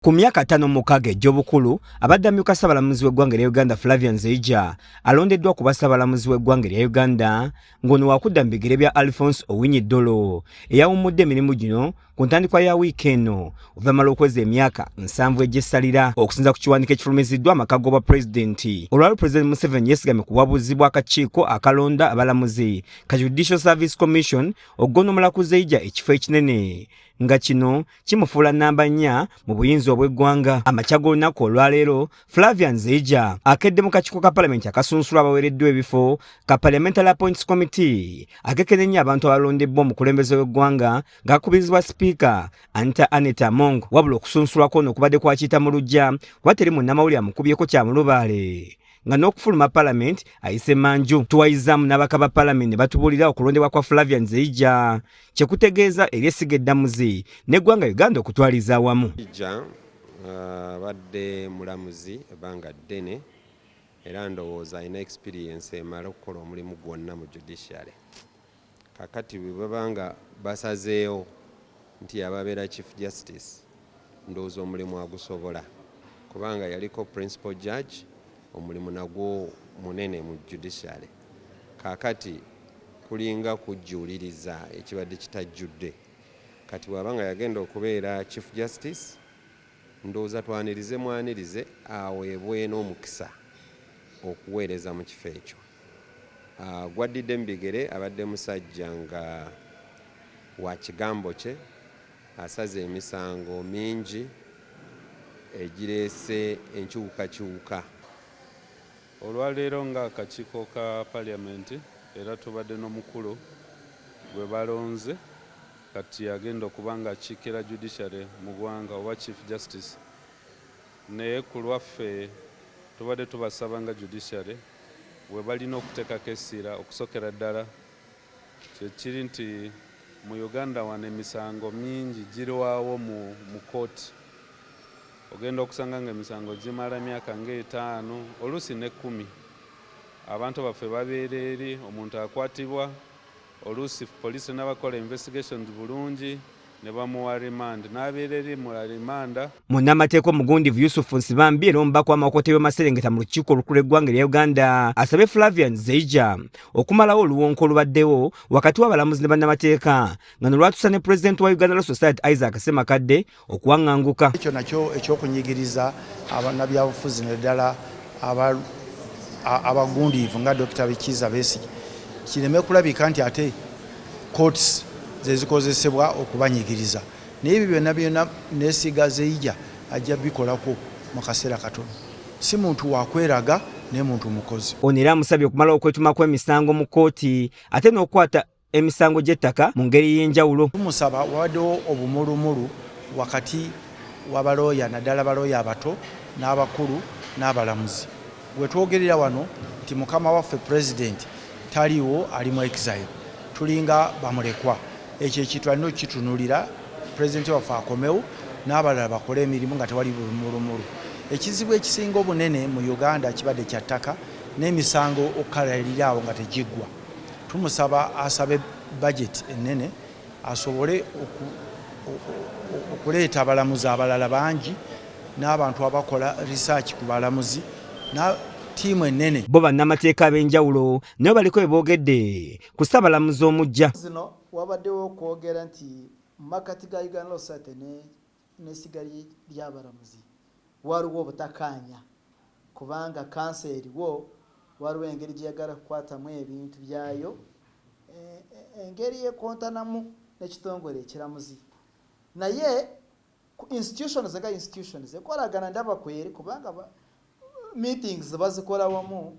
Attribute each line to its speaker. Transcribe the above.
Speaker 1: Ku myaka ataano mukaaga egy'obukulu abadde amyuka ssabalamuzi w'eggwanga erya Uganda Flavian Zeija alondeddwa ku bassabalamuzi w'eggwanga erya Uganda ng'ono wakudda mu bigere bya Alphonse Owinyi Dolo eyawummudde emirimu gino ku ntandikwa ya wiiki eno oluvannyuma lw'okweza emyaka nsanvu egy'essalira okusinza ku kiwandiiko ekifulumiziddwa amaka g'obwa pulezidenti olwali pulezidenti Museveni yeesigamye ku buwabuzi bw'akakiiko akalonda abalamuzi ka Judicial Service Commission okugondomola ku Zeija ekifo ekinene nga kino kimufuula nnamba nnya mu buyinza obw'eggwanga amakya g'olunaku olwaleero flavian zeija akedde mu kakiiko ka palamenti akasunsula abaweereddwa ebifo ka parliamentary appoints committee akekenennya abantu abalondebbwa omukulembeze w'eggwanga ng'akubirizibwa sipiika anita anet among wabula okusunsulwa kwono okubadde kwakiyita mu lujja kuba teri munnamawulire amukubyeko kya mulubaale nga n'okufuluma palamenti ayise manju tuwayizaamu n'abaka ba palamenti ne batubuulira okulondebwa kwa flavian zeija kye kutegeeza eri essiga eddamuzi n'eggwanga uganda okutwaliza awamu uh, abadde
Speaker 2: mulamuzi ebbanga ddene era ndowooza alina experience emala okukola omulimu gwonna mu judiciary Kakati bwebaba nga basazeewo nti yababeera chief justice ndowooza omulimu agusobola kubanga yaliko principal judge omulimu nagwo munene mu judiciary kakati kulinga kujjuuliriza ekibadde kitajjudde kati bwaba nga yagenda okubeera chief justice ndowooza twanirize mwanirize aweebwe n'omukisa okuweereza mu kifo ekyo. Gwaddidde mu bigere abadde musajja nga wa kigambo kye, asaze emisango mingi egireese enkyukakyuka.
Speaker 3: Olwaleero nga akakiiko ka parliament era tubadde nomukulu gwe balonze kati agenda okuba nga akikira judiciary mu gwanga oba chief justice naye kulwaffe tubadde tubasaba nga judiciary, webalina okutekako essira okusokera ddala kyekiri nti mu Uganda wano emisango mingi girwawo mu mu kooti ogenda okusanga nga emisango gimala emyaka nga etaano oluusi ne kumi abantu baffe babeera eri omuntu akwatibwa Oluusi poliisi tenaba kukola investigations bulungi ne bamuwa remand n'abeera eri mu alimanda. Munnamateeka omugundivu
Speaker 1: Yusuf Nsibambi era omubaka w'amakooti y'ebyomaserengeta mu lukiiko olukulu eggwanga erya Uganda asabye Flavian Zeija okumalawo oluwonko olubaddewo wakati w'abalamuzi ne bannamateeka nga nolwatusa ne pulezidenti wa Uganda Law Society Isaac Ssemakadde okuwaŋŋanguka. Ekyo nakyo
Speaker 4: eky'okunyigiriza abannabyabufuzi naddala abagundiivu nga Dokita Kiiza Besigye kireme kulabika nti ate courts ze zikozesebwa okubanyigiriza naye ebyo byonna byonna neesiga Zeija ajja bikolako mu kaseera katono. Si muntu wa kweraga naye muntu mukozi. Ono era amusabye okumalawo
Speaker 1: okwetuma kw'emisango mu kkooti ate n'okukwata emisango gy'ettaka mu ngeri ey'enjawulo. Tumusaba wabaddewo
Speaker 4: obumulumulu wakati wa balooya naddala balooya abato n'abakulu n'abalamuzi. We twogerera wano nti mukama waffe Pulezidenti taliiwo ali mu exile, tulinga bamulekwa. Ekyo ekintu alina okukitunulira Pulezidenti waffe akomewo n'abalala bakole emirimu nga tewali bulumulumulu. Ekizibu ekisinga obunene mu Uganda kibadde kya ttaka n'emisango okukalalira awo nga tegiggwa. Tumusaba asabe budget ennene asobole okuleeta abalamuzi abalala bangi n'abantu abakola research ku balamuzi ttiimu ennene. Bo bannamateeka
Speaker 1: ab'enjawulo nabo baliko bye boogedde ku Ssaabalamuzi omuggya. zino wabaddewo
Speaker 5: okwogera nti mu makkati ga Uganda Law Society ne n'essiga ly'abalamuzi waliwo obutakaanya kubanga kkanso eriwo waliwo engeri gye yagala okukwatamu ebintu byayo engeri ekontanamu n'ekitongole ekiramuzi naye ku institutions nga institutions ekolagana ndaba kweri kubanga meetings bazikola wamu